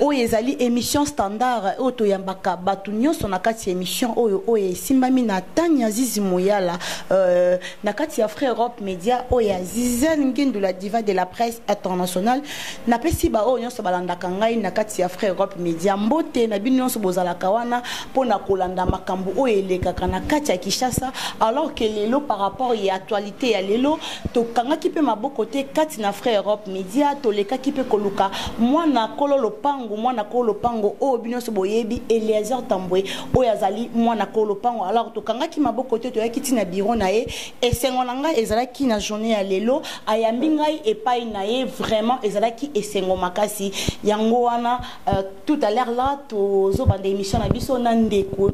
Oyo ezali emission standard oyo toyambaka batu nionso na kati ya emission oyo oyo esimbami na Tanya Zizi Muyala euh, na kati ya Frère Europe Media oyo ya Zizel Ngindu la diva de la presse internationale. Napesi ba oyo nionso balandaka ngai na kati ya Frère Europe Media mbote na bino nionso bozalaka wana mpo na kolanda makambo oyo elekaka na kati ya Kinshasa alors que lelo par rapport ya actualité ya lelo Tokangaki mpe maboko te kati na Frère Europe Media, tolekaki mpe koluka mwana kolo lopango, mwana kolo lopango oyo bino nyonso boyebi, Eliezer Tambwe, oyo azali mwana kolo lopango. Alors tokangaki maboko te, toyaki ti na bureau na ye. Esengo na ngai ezalaki na journee ya lelo, ayambi ngai epai na ye, vraiment ezalaki esengo makasi. Yango wana euh, tout à l'heure là tozobanda emission na biso na ndeko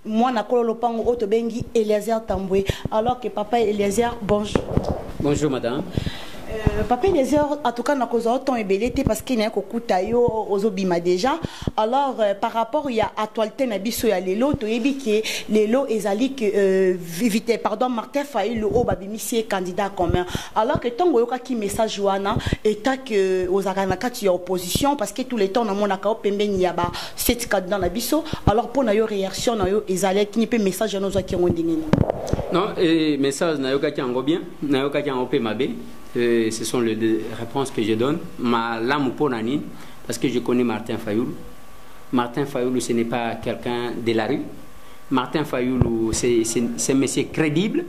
Mwana kolo lopango oyo tobengi Eliezer Tambwe alors que papa Eliezer bonjour. Bonjour madame. Euh, papa Eliezer en tout cas nakozwa yo temps ebele te parce que naye kokuta yo ozobima déjà alors euh, par rapport ya actualité na biso ya lelo toyebi ke lelo ezali ke euh, vite pardon Martin Fayulu oyo babimisi ye candidat commun alors que ntango oyokaki message wana eta ke ozalaka na kati ya opposition parce que tout le temps namonaka yo pembeni ya ba 7 candidat na biso alors mpo na yo réaction na yo ezalaki ni mpe message wana ozwaki yango ndenge nini non eh, message nayokaki yango bien nayokaki yango mpe mabe eh, ce sont les deux réponses que je donne malamu mpo na nini parce que je connais martin fayoulu martin fayoulu ce n'est pas quelqu'un de la rue martin fayoulu c'est un monsieur crédible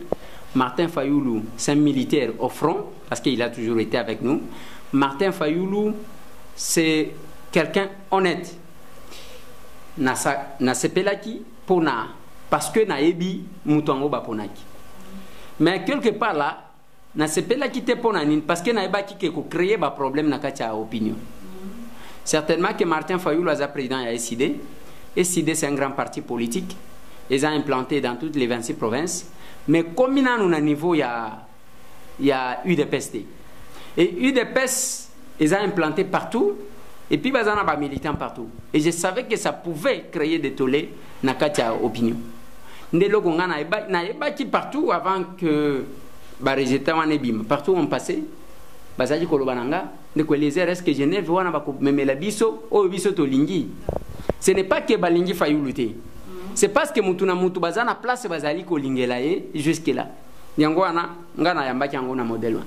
martin fayoulu c'est un militaire au front parce qu'il a toujours été avec nous martin fayoulu c'est quelqu'un honnête nasa nasepelaki pona parce que nayebi moto yango baponaki mais quelque part là nasepelaki te mpo na nini parce que nayebaki ke kocreye baproblème na kati ya opinion certainement que martin fayulu aza président ya sid sid c'est un grand parti politique eza implanté dans toutes les 26 provinces mais komi nanu na niveau ya ya udps te et udps eza implanté partout et puis baza na ba militants partout et je savais que ça pouvait créer des tollés na kati ya opinion nde eloko ngai nayebaki partout avant que baresultat wana ebima partout on passé bazalaki koloba na nga ndeko eliezer est ce que genève wana bakomemela biso oyo biso tolingi ce n'est pas que balingi fayulu te c'est parce que mutu na mutu baza na place bazali kolingela ye jusque là yango wana nga nayambaki yango na modèle wana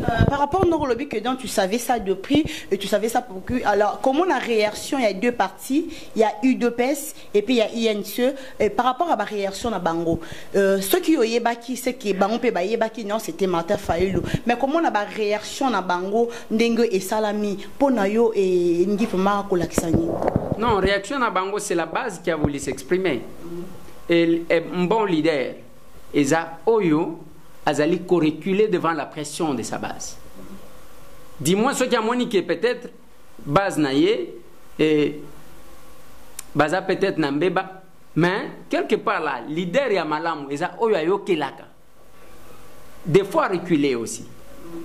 euh, par rapport ndoko olobi que donc tu savais ça de prix et tu savais ça pour que alors comment la réaction il y a deux parties il y a udps et puis il y a ince et par rapport à la réaction na bango euh, ceux qui oyebaki c'est que bango pe bayebaki non c'était Martin Fayulu mais comment la réaction na bango ndenge esalami mpo na yo elingi vraiment kolakisa nini non réaction na bango c'est la base qui a voulu s'exprimer et, et bon leader eza oyo azali ko reculer devant la pression de sa base du moins soki amoni ke peut-être base na ye eh, baza peut-être na mbeba mais quelque part là leader ya malamu eza oyo ayokelaka des fois reculer aussi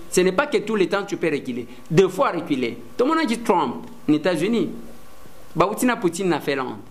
ce n'est pas que tout le temps tu peux reculer des fois reculer tomonaki trump na états-unis bauti na poutine na finlande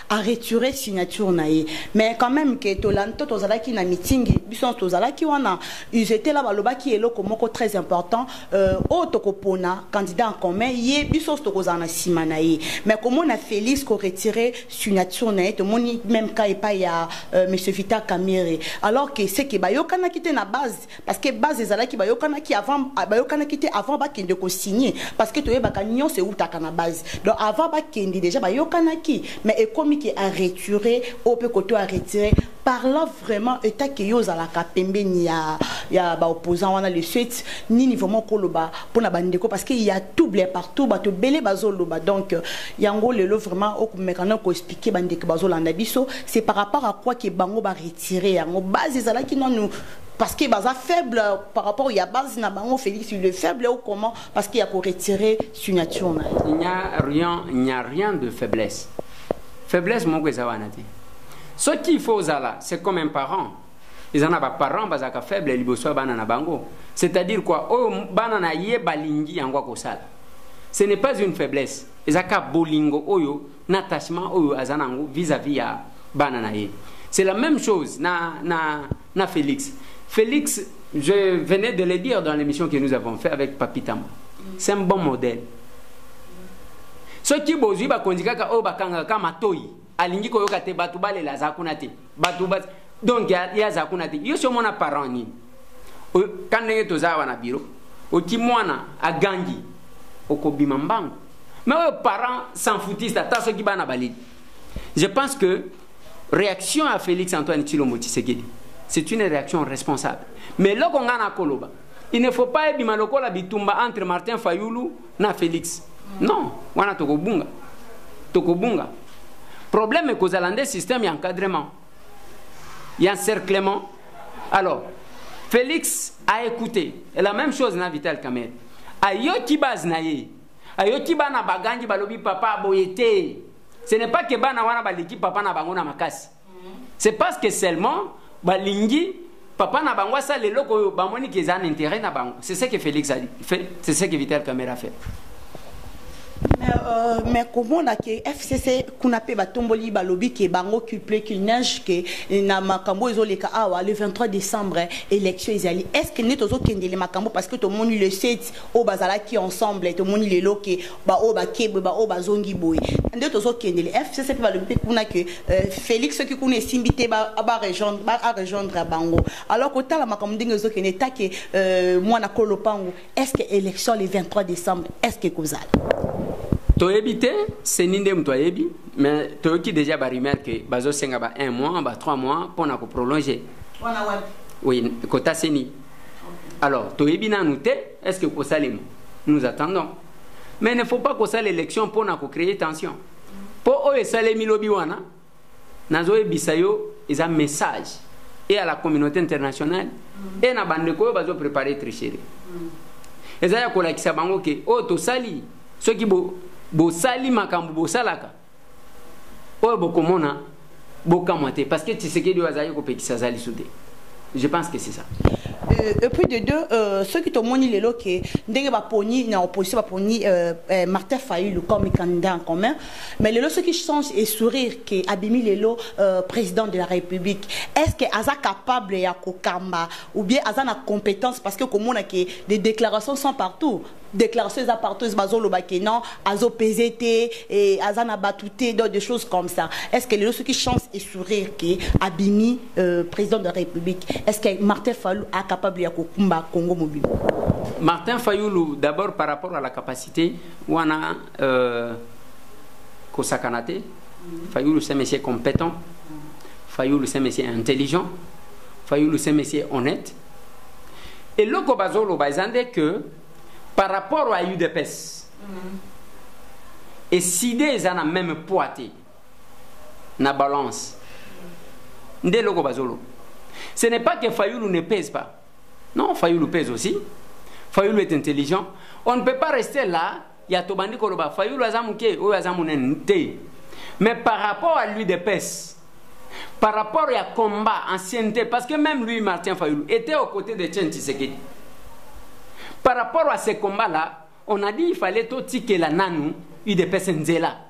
a retirer signature na ye mais quand même que tolandi to tozalaki na meeting biso nyonso tozalaki wana ils étaient là balobaki eloko moko très important euh, oyo tokopona candidat en commun ye biso nyonso tokozala na nsima na ye mais komona félix koretire signature na ye tomoni même ka epai ya euh, monsieur vita kamere alors que seke bayokanaki te na base parce que base ezalaki bayokanaki avant ah, bayokanaki te avant bakende kosigne parce que toyebaka nyonso eutaka na base donc avant bakende déjà bayokanaki mais ekomi ke areture oyo mpe koto aretire parla vraiment etake yo ozalaka pembeni ya, ya baopposant wana le suite nini vraiment koloba mpo na bandeko parce que ya touble partout bato ebele bazoloba donc euh, yango lelo vraiment okomeka na koexplike bandeko bazolanda biso c'est par rapport à quoi ke bango baretire yango base ezalaki nanu parce que baza faible par rapport ya base na bango Félix il est faible ou comment parce qu'il y a ko retirer signature na il n'y a rien il n'y a rien de faiblesse faiblesse moko eza wana te ce qu'il faut zala c'est comme un parent ils en a ba parents bazaka faible liboso bana na bango c'est-à-dire quoi oh bana na ye balingi yango ko sala ce n'est pas une faiblesse ezaka bolingo oyo na attachement oyo azana vis-à-vis ya bana na ye c'est la même chose na na na Felix Felix je venais de le dire dans l'émission que nous avons fait avec Papi Tamba c'est un bon modèle soki bozwi bakonzi kaka oyo bakangaka ka matoi alingi koyoka te bato balela aza kuna te bato ba donc ye aza kuna te yo si omona parent nini ka ndenge toza awa na biro oki mwana agangi okobima mbangu me oyo parent s'enfoutiste ata soki bana baleli je pense que Reaction ya Felix Antoine Tshilombo Tshisekedi, c'est une reaction responsable. Mais loko nga na koloba, il ne faut pas ebima lokola bitumba entre Martin Fayulu na Felix. Non, wana tokobunga. Tokobunga. Problème ekozala nde système ya encadrement. Ya encerclement. Alors, Felix a écouté. Et la même chose na Vital Kamerhe. Ayoki base na ye. ayoki bana bagangi balobi papa boye te ce n'est pas que bana wana baleki papa na bango na makasi c'est parce que seulement balingi papa na bango asala eloko oyo bamoni ke eza na intérêt na bango c'est ce que félix a fait c'est ce que vital camera fait mais, euh, mais komona ke fcc kuna mpe batomboli balobi ke bango culple qu'il neige ke na makambo oyo ezoleka awa le 23 décembre élection ezali est ce que nde tozokendele makambo parce que tomoni le 7 oyo bazalaki ensemble tomoni lelo ke baoyo bakebwe baoyo bazongi boye nde tozokendele fcc mpe balobi mpe kuna ke euh, félix soki kuna esimbi te barejoindre bango alors kotala makambo ndenge ezokende etake euh, mwana ko lopango est ce que élection le 23 décembre est ce que ekozala toyebi te seni nde moto ayebi mais toyoki déjà barumeur ke bazosenga ba 1 mois ba 3 mois mpo na koprolonge oui kota seni alors toyebi nanu te est ce que kosalema nous attendons mais ne faut pas kosala élection mpo na kocreye tension mpo oyo esalemi lobi wana nazoyebisa yo eza message et à la communauté internationale et na bandeko oyo bazoprépare tricherie eza ya kolakisa bango ke oyo tosali soki bosali bo makambo bosalaka oyo bokomona bokamwa te parce que tshisekedi oyo azalaki kopekisa aza lisu te je pense que c'est ça euh, et puis de deux euh, soki tomoni lelo ke ndenge baponi na opposition baponi euh, euh, martin fayulu comme candidat en commun mais lelo soki change et sourire ke abimi lelo euh, président de la république est ce que aza capable ya kokamba ou bien aza na compétence parce que komona ke des déclarations sont partout declaration eza partout bazoloba ke non azo pese te eh, aza na bato te donc des choses comme ça est ce que lelo soki chance esourire ke abimi euh, président de la république est ce que martin fallu acapable ya kokumba congo mobimba martin fayulu d'abord par rapport à la capacité wana euh, kosakana te fayulu c'est monsieur compétent fayulu c'est monsieur intelligent fayulu c'est monsieur honnête eloko bazoloba eza nde ke par rapport ya udps mm. eside eza na meme poids te na balance nde eloko bazoloba ce n'est pas que fayulu ne pèse pas non fayulu pèse aussi fayulu est intelligent on ne peut pas rester là ya tobandi koloba fayulu aza moke oyo aza monene te mais par rapport à lui de pese par rapport à combat, ancienneté, parce que même lui, Martin Fayoulou, était aux côtés de Chen Tshisekedi. Par rapport à ces combats-là, on a dit qu'il fallait tout la nanou, il dépêche Nzela.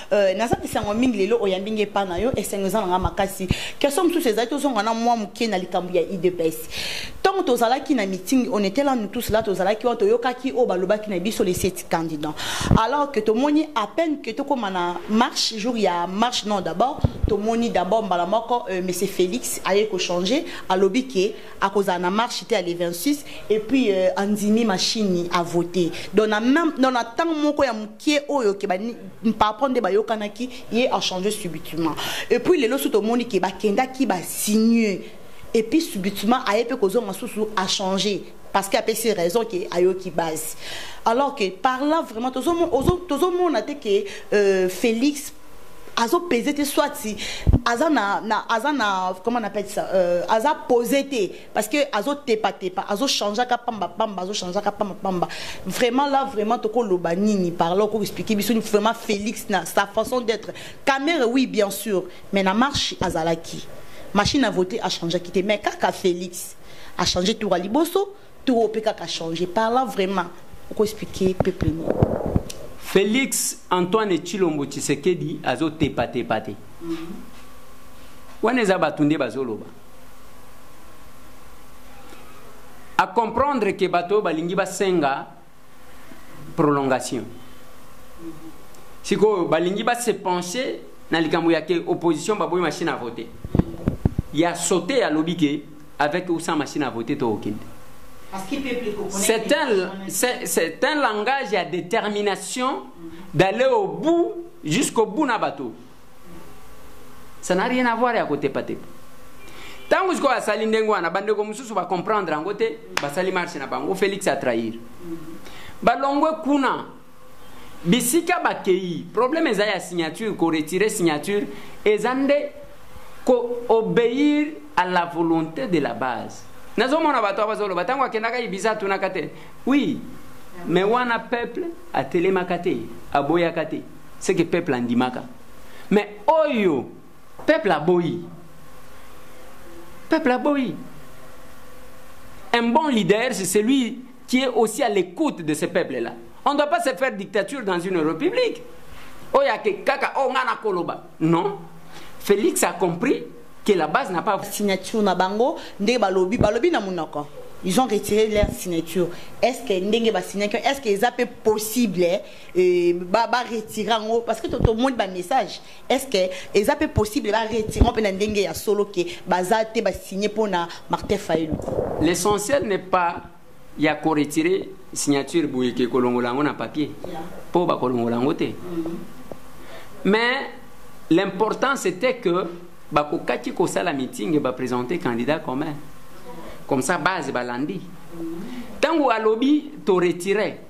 Euh, naza bisango mingi lelo oyambi nge epai na yo esengo eza na ngai makasi question mosusu ezali tozonga na mwa moke na likambo ya idps ntango tozalaki na meeting on était là nous tous là tozalaki wana toyokaki oyo balobaki na biso les sept candidats alors que tomoni à peine que tokóma na marche jour ya marche non d'abord tomoni d'abord mbala moko euh, monsieur félix aye kochanger alobi ke akozala na marche te ya le 26 et puis euh, andimi machine avote donc na ntango moko ya kie oyo ke papa nde bayokanaki ye achange subitement et puis lelo so tomoni ke bakendaki basigne et puis subitement aye mpe kozonga susu achange parce que apesi raison ke ayoki base alors que par là vraiment tozomona te ke euh, félix azopese te soit aza na, na aza na comment on appelle ça euh, aza pose te parce que azo tepa tepa azo changer ka pamba pamba azo changer ka pamba pamba vraiment là vraiment toko loba nini par là ko expliquer biso vraiment Félix na sa façon d'être Kamere oui bien sûr mais na marche azalaki machine à voter a changer quitté mais kaka Félix a changer tour à liboso tour pe kaka changer par là vraiment ko expliquer peuple nous Félix Antoine Chilombo Tshisekedi azo tepa tepa te mm -hmm. wana eza bato nde bazoloba a comprendre ke bato oyo balingi basenga prolongation sikoyo balingi base penche na likambo ya ke opposition baboyi machine à voter ya sote alobi ke avec ou sans machine à voter tookende c'est un, c'est un langage ya détermination d'aller au bout jusqu'au bout na bato ça n'a rien à voir ya kotepatepa ntango sikoyo asali ndenge wana bandeko mosusu bacomprendre yango te basali marche na bango félix atrahir balongwe kuna bisika bakei problème eza ya signature koretire signature eza nde koobéir à la volonté de la base nazomona bato a bazoloba ntango akendaka ibisa atunaka te oui me wana peuple atelemaka te aboyaka te ce que peuple andimaka mais oyo peuple aboyi peuple aboyi un bon leader c'est celui qui est aussi à l'écoute de ce peuple là on ne doit pas se faire dictature dans une république oyo ake kaka oyo oh, ngai nakoloba non félix a compris que la base n'a pas signature na bango ndenge balobi balobi na monoko ils ont retiré leur signature est ce que ndenge basignaki est ce que eza mpe possible Et ba ba retire yango parce que to to monde ba message est-ce que eza pe possible ba retire pe na ndenge ya solo ke baza te ba signer pona Martin Fayulu l'essentiel n'est pas ya ko retirer signature boye ke kolongola yango na papier po ba kolongola yango te mm-hmm. mais l'important c'était que ba ko kaki ko sala meeting et ba présenter candidat commun comme ça base balandi mm-hmm. tango alobi to retirer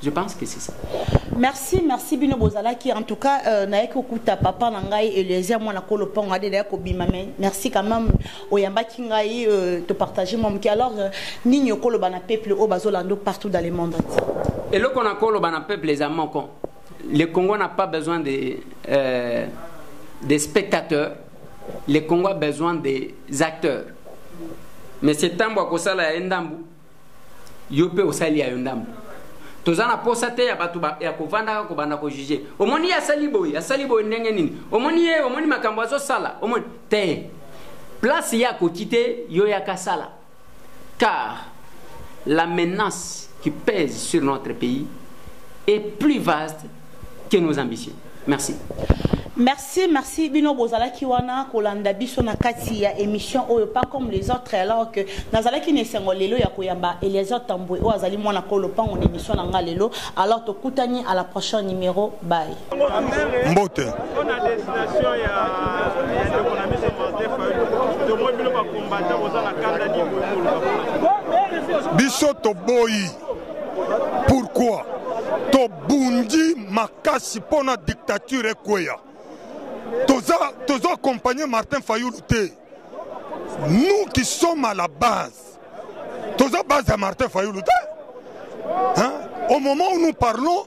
Je pense que c'est ça. Merci, merci Bino Bozalaki. En tout cas, euh, naye kokuta papa na ngai Eliezer mwana kolo ponga de naye kobima mais merci quand même oyamba ki ngai euh, te partager mon qui alors euh, nini okolo bana peuple au bazolando partout dans le monde. Et le qu'on a kolo bana peuple les amants con. Le Congo n'a pas besoin des euh, des spectateurs. Le Congo a besoin des acteurs. Mais c'est tambo akosala ya ndambu yo mpe osali ya yo ndambo toza na posa te ya bato ya kovandaka kobanda kojuge omoni ye asali boye asali boye ndenge nini omoni ye omoni makambo azosala omoni te place ye akoki te yo yaka sala car la menace qui pèse sur notre pays est plus vaste que nos ambitions. Merci. Merci, merci. Bino bozalaki wana kolanda biso na kati ya émission oyo pas comme les autres alors que nazalaki na esengo lelo ya koyamba Eliezer Tambwe oyo azali mwana kolo pango na émission na nga lelo alors tokutani à la prochaine numéro bye. Mbote. On a destination ya ya ndeko na biso Martin Fayulu. Tomoi bino ba combattant bozana kanda ni boye. Biso toboyi pourquoi tobundi makasi mpo na dictature ekweya toza toza accompagne martin fayulu te nous qui sommes à la base toza base ya martin fayulu te hein? au moment où nous parlons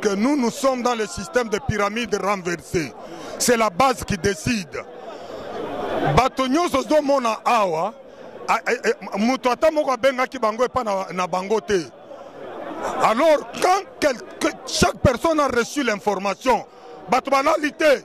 que nous nous sommes dans le système de pyramide renversée c'est la base qui décide bato nyonso ozomona awa moto ata moko abengaki bango epai na, na bango te alors quand quel, que, chaque personne a reçu l'information bato balali te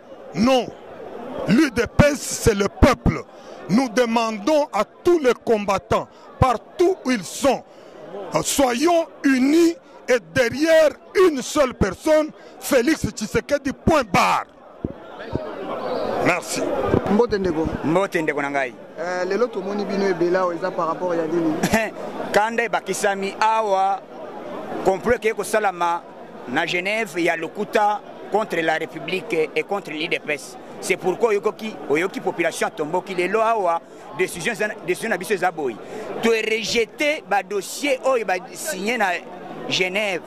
Non, l'UDPS c'est le peuple. Nous demandons à tous les combattants, partout où ils sont, euh, soyons unis et derrière une seule personne, Félix Tshisekedi, point barre. Merci. mbote ndeko mbote ndeko na ngai uh, lelo tomoni bino ebele awa eza par rapport ya nini kanda ebakisami awa complot ekei kosalama na Genève ya lokuta contre la République et contre l'IDPS. C'est pourquoi oyoki oyoki population tomboki lelo awa décision décision na biso eza boyi. To rejeter ba dossier oyo ba signé na Genève.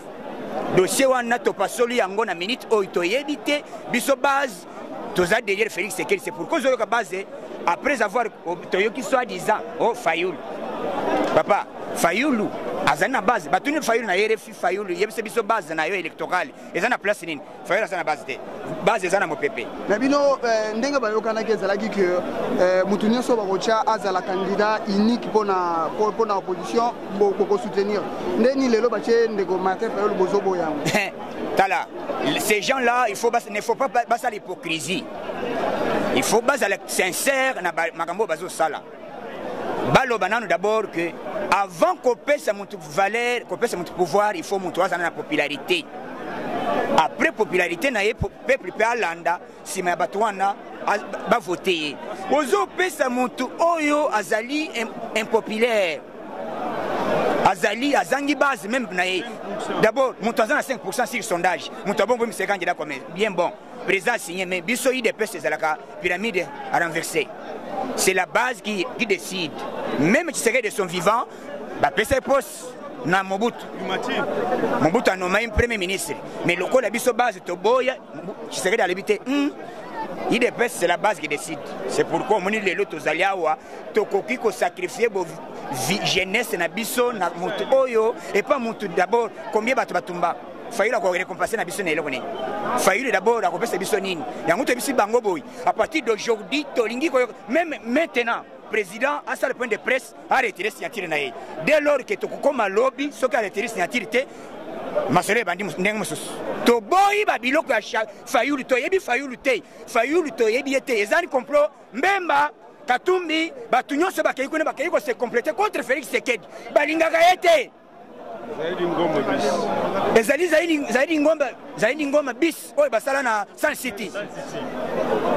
Dossier wana to pasoli yango na minute oyo to yebi te biso base toza derrière Félix Sekeli c'est pourquoi ozoyoka base après avoir toyoki soit disant oh Fayoul. Papa Fayoulou azali na base batuni Fayoul na RFI Fayulu yebisa biso base na yo electoral eza na place nini? Fayulu aza na base te. Base eza na mopepe. Na bino eh, ndenge bayokanaki ezalaki que eh, moto nyonso bakotya azala candidat unique pona pona opposition boko soutenir. Nde ni lelo batye ndeko Martin Fayulu bozobo yango. Tala, ces gens là il faut bas, ne faut pas basala hypocrisie. Il faut basala sincère na makambo bazosala. baloba nanu d'abord que avant kopesa motu valeur kopesa motu pouvoir il faut motu aza na popularité après popularité na ye peuple mpe alanda nsima ya bato wana bavote ye ozopesa motu oyo azali impopulaire azali azangi base meme na ye d'abord moto aza na 5 pourcent sur sondage moto abongo miseka njela comme bien bon président asigne mais biso idps ezalaka Pyramide à renverser. C'est la base qui, qui décide. Même Tshisekedi de son vivant, bah, pèse poste. na mobutu mobutu anomai premier ministre mais lokola biso base toboya tshisekedi alobi te hmm, idps c'est la base qui décide c'est pourquoi omoni lelo tozali awa tokoki kosacrifie jeunesse na biso na motu oyo epa motu d'abord combien bato batumba fayulu akorekompense na biso na eloko nini fayulu dabord akopesa biso nini yango toyebisi bango boye à partir d'aujourd'hui tolingi koyoka meme maintenant président asala point de presse aretire signature na ye dès lors ke tokokoma lobi soki aretire signature te masolo ebandi ndenge mosusu toboyi babiloko ya fayulu toyebi fayulu te fayulu toyebi ye te ezali complot mbemba katumbi bato nyonso bakei kuna bakei kose complete contre félix sekedi balingaka ye te ezali zaidi ngomba zaidi ngoma bis oyo basala na sun city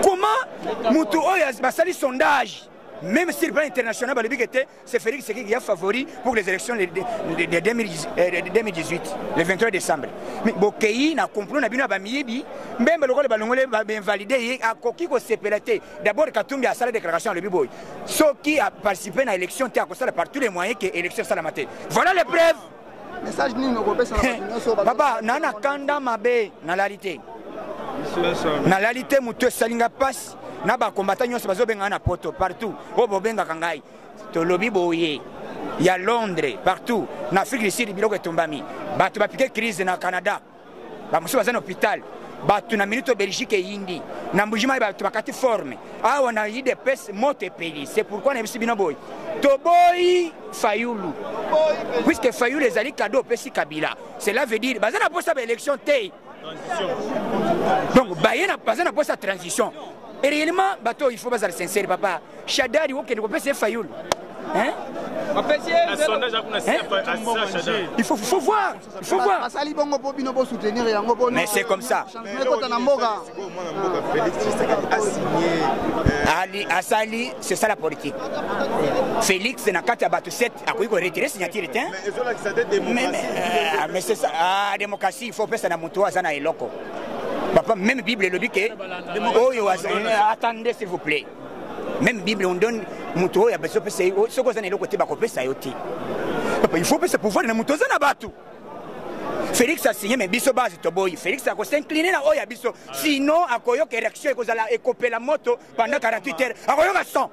comment motu oyo basali sondage même sur le plan international balobi ke te c'est félix sekiki ya favori pour les élections de, de, de, 2018 euh, le 23 décembre mais bokei na complot na bino ya bamiyibi mbembe lokola balongoli bainvalide ye akoki kosepela te d'abord katumbi asala déclaration alobi boye soki a participer na élection te akosala par tous les moyens que élection esalama te voilà les preuves message nini okopesa na bato nyonso papa na na kanda mabe nalali te nalali te moto esali ngai mpasi na bakombata nyonso bazobengana na poto partout oyo bobengaka ngai tolobi boye ya londres partout na afrique du sud biloko etumbami bato bapike crise na canada bamosusu baza na hôpital bato na minute belgique eyindi na mbujimai bato bakati forme awa na idps moto epeli c'est pourquoi nayebisi bino boye toboyi fayulu puisque fayulu ezali kado opesi kabila cela veut dire baza na mposa baélection te donc baye baza na mposa transition et réellement bato oyo il faut bazala sincere papa Shadari okende kopesa ye Fayulu. Hein? Il faut, faut voir, il faut voir. Basali bongo po bino bo soutenir yango po. Mais c'est comme ça. Kota na mboka. Ali asali, c'est ça la politique. Félix na kati ya bato 7 akoki ko retirer signature te. Mais euh, mais c'est ça. Ah démocratie, il faut pesa na moto aza na eloko. Papa, même Bible elobi que oyo attendez s'il vous plaît. meme bible on donne moto oyo abazo pesa ye soki oza na eloko te bakopesa yo te papa il faut pesa pouvoir na moto oza na bato félix asigne me biso base toboyi félix akosincline na oyo ya biso sinon akoyoka érection ekozala ekopela moto pendant 48 heures akoyoka son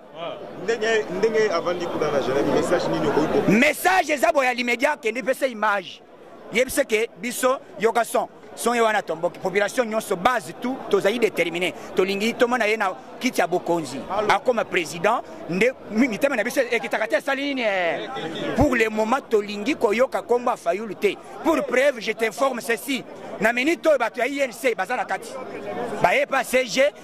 message eza boya limedia akende pesa image yebisa ke biso yoka son songe wana tomboki population nyonso base tout tozali déterminé tolingi tomona ye na kiti ya bokonzi akoma président nde mitema na biso ekitaka te esali nini eh? pour le moment tolingi koyoka nkombo ya fayulu te pour preuve je t'informe ceci na minute oyo bato ya inc baza na kati baye pa cg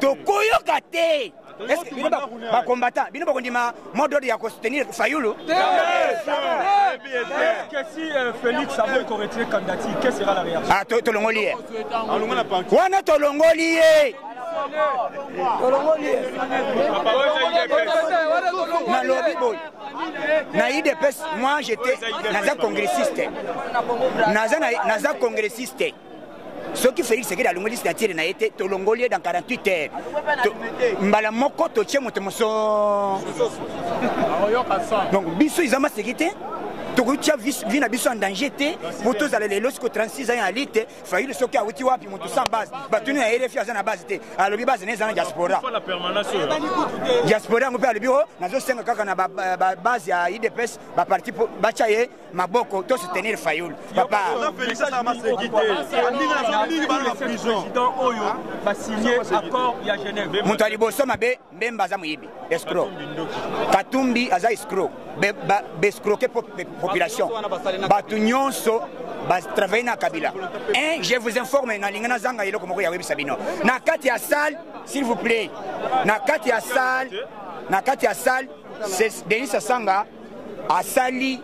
tokoyoka te bakombata bino bakondima modode ya kosoutenir fayulu tolongoli ye wana tolongoli ye nalobi boye na idps moi jete naza congressiste naza congressiste soki félix sekedi alongoli signatire na ye te tolongoli ye dans 48 heures mbala moko totie moto moso donc biso eza maseki te tokoki tia vi na biso en danger te po tozala lelo siko 36 ans ya lite fayulu soki awuti wapi moto sans base batuni ya rfi aza na base te alobi base na eza na diaspora diaspora yango mpe alobi o oh, nazosenga kaka na babase ya idps baparti batia ye maboko to soutenir fayulu papa moto ya liboso mabe mbemba aza moyibi escro katumbi aza escro bescroke population bato nyonso batravaille na kabila un je vous informe nalingi nazanga eloko moko ya oyebisa bino na kati ya salle s'il vous plaît na kati ya salle na kati ya salle denis asanga asali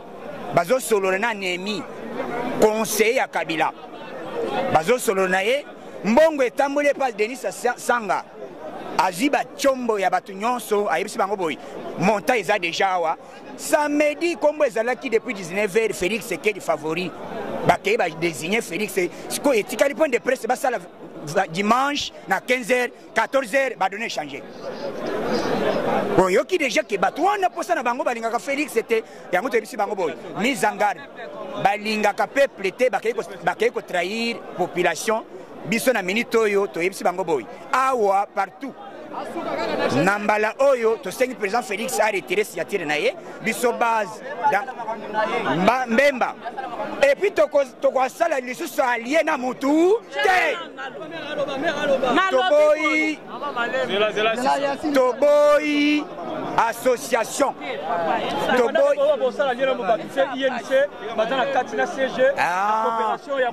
bazosolola na nemi conseiller ya kabila bazosolola na ye mbongo etamboli epai denis sanga azwi bacombo ya bato nyonso ayebisi bango boye monta eza deja awa samedi nkombo ezalaki depuis 19 heure félix sekedi favori bakei badesigne félix sikoyo etikali point de presse basala dimanche na 15 heure 14 heures ba données changer oyoki deja ke bato wana mposa na bango balingaka félix te yango toyebisi bango boye mise en garde balingaka peuple te bakei kotrahir population biso na minute oyo toyebisi bango boye awa partout na mbala oyo tosengi président félix aretire signature na ye biso base mbemba epuis tokoz tokosala lisusu alie na mutu te toboyi toboyi association toboyi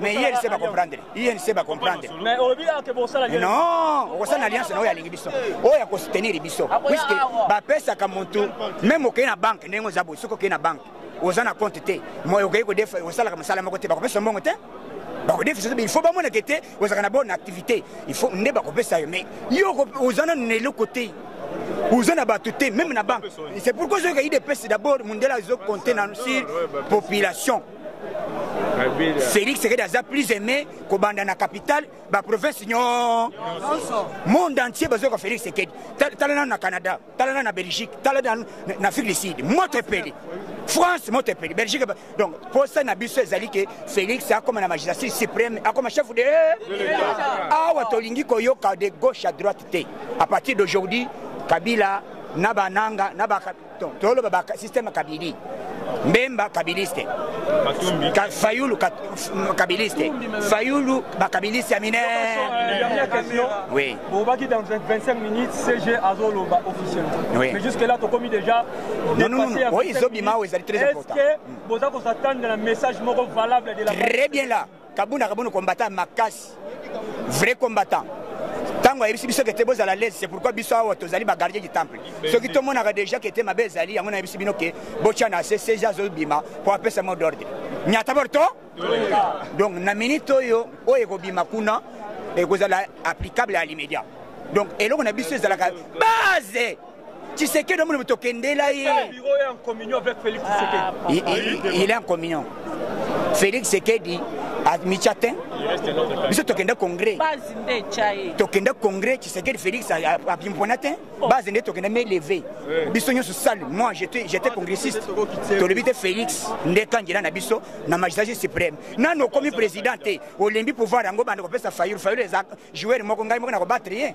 mais inc bacomprendre inc bacomprendre non okosala na alliance na oyo alingi biso oyo akosoutenir biso puiske bapesaka mutu meme okei na banke ndenge oza boye soki okei na banke oza na compte te moyo okoki kodefa osalaka mosala moko te bakopesa mbongo te bakodefisa il faut bamonaka te ozalaka na bonne activité il faut nde bakopesa yo mais yo oza nanu na eloko te oza na bato te meme na banque c'est pourquoi ozoyoka idps d'abord mondela azo compte na sur population félix sekedi aza plus aimé kobanda na capitale baprovince nyonso monde entier bazoyoka félix sekedi tala nano na canada tala na na belgique tala na, na afrique du sud moto epeli france moto epeli belgique donc posa na biso ezali ke félix akoma na magistrature suprême akoma chef de awa tolingi koyoka de gauche à droite te à partir d'aujourd'hui kabila na bananga na toloba ba système ya kabili mbemba kabiliste Ka, fayulu ka, kabiliste fayulu bakabiliste ya minene oui. Bobaki dans 25 minutes, CG Azoloba officiel. Oui. Mais jusque-là, Tokomi déjà. Non, non, non. Oui, Zobima, oui, c'est très important. Est-ce que vous avez attendu un message valable de la Très bien là. Kabuna Kabuna combattant Makas. Vrai combattant. ntango ayebisi biso kete bozala lese c'est pourquoi biso awa tozali bagardie du temple soki tomonaka déjà kete mabe ezali yango nayebisi bino ke botya na se seja azobima mpo apesa mot d'ordre nyata borto donc na minute oyo oyo ekobima kuna ekozala applicable à l'immédiat donc eloko na biso ezalaka base tshisekedi omoni moto okendela ye ah, il est en communion félix tshisekedi mitya te biso tokenda congrès tokenda congrès tshisekedi félix abimpona te oh. base nde tokenda meleve biso nyonso sale moi j'étais congressiste tolobi te félix nde kangela na biso na magistrature supreme nanu okomi président te olembi pouvoir yango banda kopesa fayulu fayulu eza joueur moko ngai moko na kobattre ye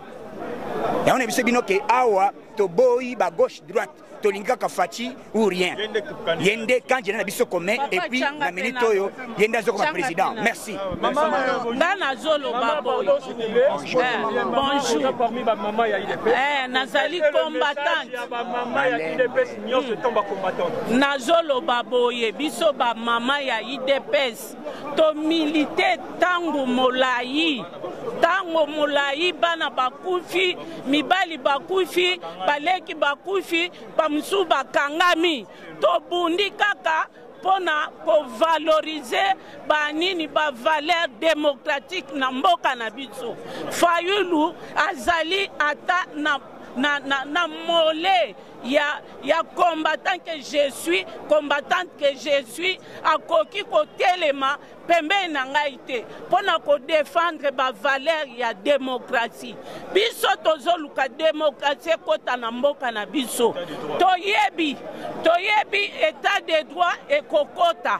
yango na biso bino ke awa toboyi ba gauche droite tolingi kaka faci ou rien ye nde kandida na biso commun epuis na minute oyo ye nde azokoma président merci nga nazoloba boye bonjour nazali combattante nazoloba boye biso bamama ya idps tomilite ntango molai ntango molai bana bakufi mibali bakufi baleki bakufi bamosusu bakangami tobundi kaka mpo na kovalorize banini bavaleur demokratike na mboka na biso fayulu azali ata na, na, na, na mole ya, ya combattant que je suis combattante que je suis akoki kotelema pembeni na ngai te mpo na kodefendre bavaleur ya demokrasi biso tozoluka demokrasi ekota na mboka na biso toyebi toyebi etat de droit ekokota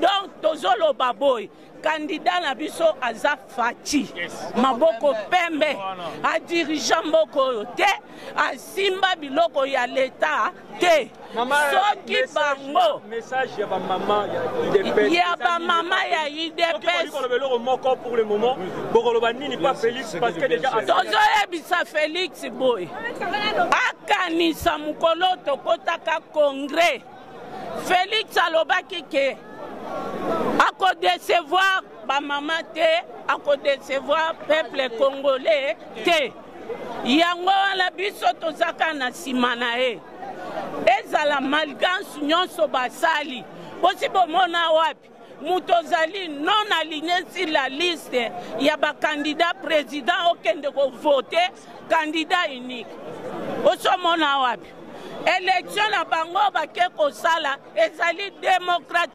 donc tozoloba boye kandida na biso aza faci maboko pembe adirige mboka oyo te asimba biloko ya leta te soki bango ya bamama ya idepstozoyebisa felix boye akanisa mokolo tokotaka congrès Felix alobaki ke akodecevoir bamama te akodecevoir peuple congolais te yango wana biso tozaka na nsima na ye ezala malgance nyonso basali bosi bomona wapi moto ozali non aligne sur la liste ya bakandidat président okende kovote candidat unique osomona wapi elektio na bango bake kosala ezali demokrati